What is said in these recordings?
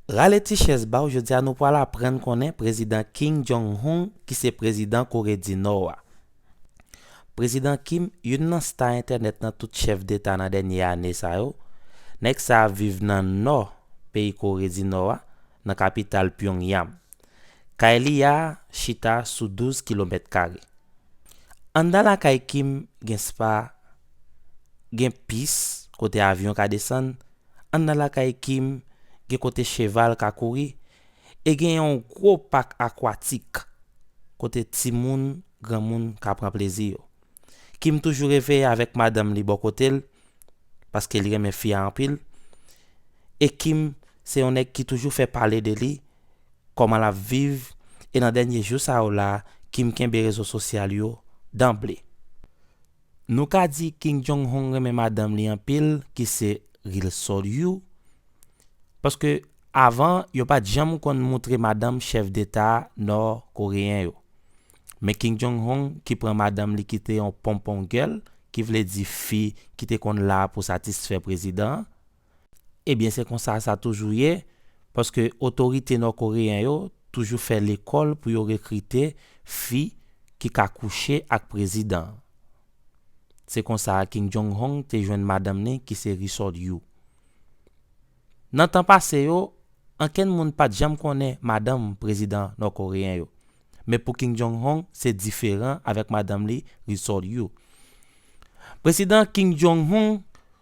Rale ti chèz ba w jodi a nou pral aprann konnen Prezidan King Jong Hung ki se Prezidan Kore di Nò a. Prezidan Kim, youn nan sta entènèt nan tout chèf deta nan dènye ane sa yo, nèg sa ap viv nan Nò peyi Kore di Nò a, nan kapital Pyongyang. Kay li a chita sou 12 kilomèt kare. Anndan lakay Kim gen spa, gen pis kote avyon ka desann, An nan lakay Kim gen kote cheval ka kouri e gen yon gwo pak akwatik kote timoun, granmoun ka pran plezi yo. Kim toujou reve avèk madanm li bò kote l paske li renmen fi a anpil e Kim se yon nèg ki toujou fè pale de li, kòman l ap viv e nan dènye jou sa yo la Kim kenbe rezo sosyal yo danble. Nou ka di King Jong Hong renmen madanm li anpil ki se Ri Sol Yu, paske avan yo pat janm konn moutre madanm chèf deta nò koreyen yo. Men King Jong Hong ki pran madanm li ki te yon ponpon gèl, ki vle di fi ki te konn la pou satisfè prezidan an, Ebyen se konsa sa toujou ye, paske otorite nò koreyen yo toujou fè lekòl pou yo rekrite fi ki ka kouche ak prezidan. Se konsa Kim Jong Hong te jwenn madanm ni ki se Ri Sol Yu. Nan tan pase yo, ankenn moun pat janm konnen madanm prezidan nò koreyen yo. Men pou Kim Jong Hong se diferan avèk madanm li Ri Sol Yu. Prezidan Kim Jong Hong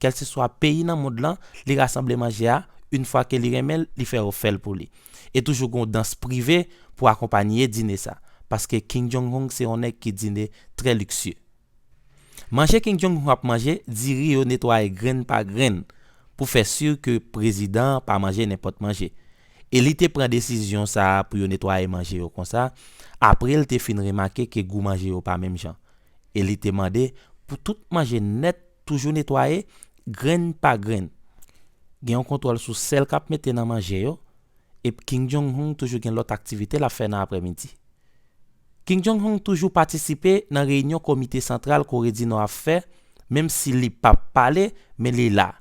kèlseswa peyi nan mond lan li rasanble manje a yn fwa ke li renmen l li fè yo fèl pou li e toujou gen yon dans prive pou akonpanye dine sa paske King Jong Hung se yon nèg ki dine trè liksye manje King Jong Hung ap manje diri yo netwaye grenn pa grenn pou fè si ke prezidan an pa manje nenpòt manje e li te pran desizyon sa pou yo netwaye manje yo konsa apre l te fin remake ke gou manje yo pa menm jan e li te mande pou tout manje nèt Toujou netwaye, grenn pa grenn. Gen yon kontwòl sou sèl k ap mete nan manje yo, ep King Jong Hong toujou gen lòt aktivite l ap fè nan aprè midi. King Jong Hong toujou patisipe nan reyinyon komite santral Kore di Nò ap fè, menm si li p ap pale, men li la.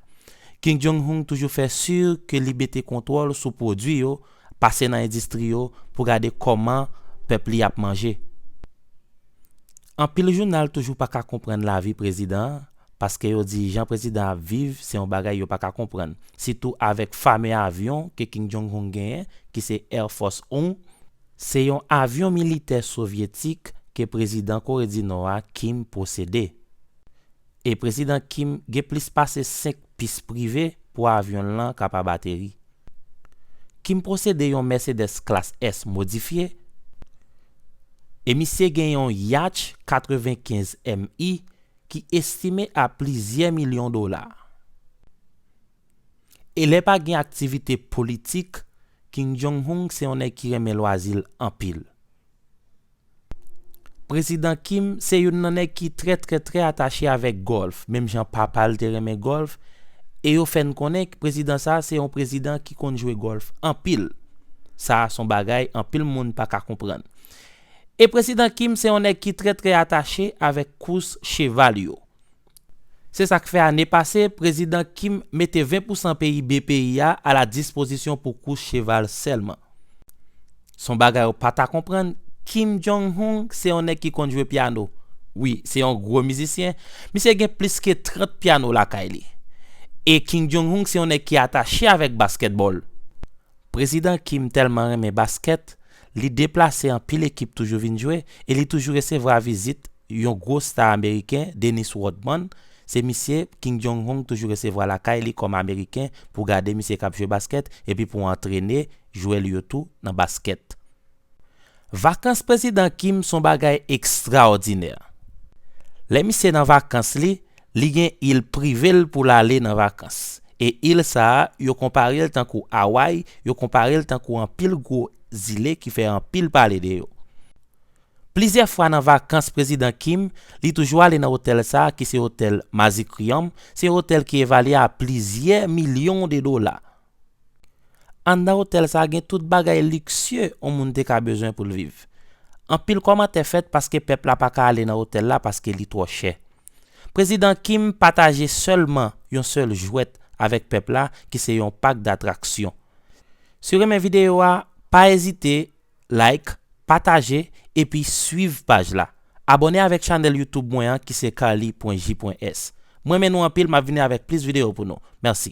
King Jong Hong toujou fè sur ke li mete kontwòl sou pwodui yo, Pase nan endistri yo pou gade kòman pèp li ap manje. Anpil jounal toujou pa ka konprann lavi prezidan an paske yo di jan prezidan an ap viv se yon bagay yo pa ka konprann, sitou avèk fame avyon ke King Jong Hung genyen ki se Air Force One. Se yon avyon militè sovyetik ke prezidan Kore di Nò a Kim posede. E Prezidan Kim gen plis pase 5 pis prive pou avyon l lan kapab ateri. Kim posede yon Mercedes Klas S modifye, e misye gen yon Yatch 95 MI ki estime a plizyè milyon dola. E lè pa gen aktivite politik, Kim Jong-un se yon nèg ki renmen lwazi l anpil. Prezidan Kim se youn nan nèg ki trè trè trè atache avèk gòlf menm jan papa l te renmen gòlf e yo fè n konnen prezidan sa se yon prezidan ki konn jwe gòlf anpil sa a s on bagay anpil moun pa ka konprann e prezidan Kim se yon nèg ki trè trè atache avèk kous cheval yo. Se sa k fè ane pase, Prezidan Kim mete 20 pousan PIB peyi a a la dispozisyon pou kous cheval sèlman. S on bagay ou pa ta konprann, Kim Jong Hung se yon nèg ki konn jwe pyano. Wi, se yon gwo mizisyen. Misye gen plis ke 30 pyano lakay li. E Kim Jong Hung se yon nèg ki atache avèk baskètbòl. Prezidan Kim tèlman renmen baskèt, Li deplase anpil ekip toujou vin jwe e li toujou resevwa vizit yon gwo sta ameriken, Dennis Rodman, se misye King Jong Hong toujou resevwa lakay li kòm ameriken pou gade misye kap jwe baskèt epi pou antrene jwè li yo tou nan baskèt. Vakans Prezidan Kim son bagay ekstraòdinè. Lè misye nan vakans li, Li gen il prive l pou l ale nan vakans. E il sa a, yo konpare l tankou Away, yo konpare l tankou anpil gwo zile ki fè anpil pale de yo. Plizyè fwa nan vakans Prezidan Kim, li toujou ale nan otèl sa a ki se otèl Mazikrium, se yon otèl ki evalye a plizyè milyon de dola. Anndan otèl sa gen tout bagay liksye on moun te ka bezwen pou l viv. Anpil kòmantè fèt paske pèp la pa ka ale nan otèl la paske li twò chè. Prezidan Kim pataje sèlman yon sèl jwèt avèk pèp la ki se yon pak datraksyon. Si w renmen videyo a, pa ezite like, pataje epi swiv paj la. Abòne avèk chanèl YouTube mwen an ki se carly.j.s. M renmen nou anpil m ap vini avèk plis videyo pou nou. Mèsi.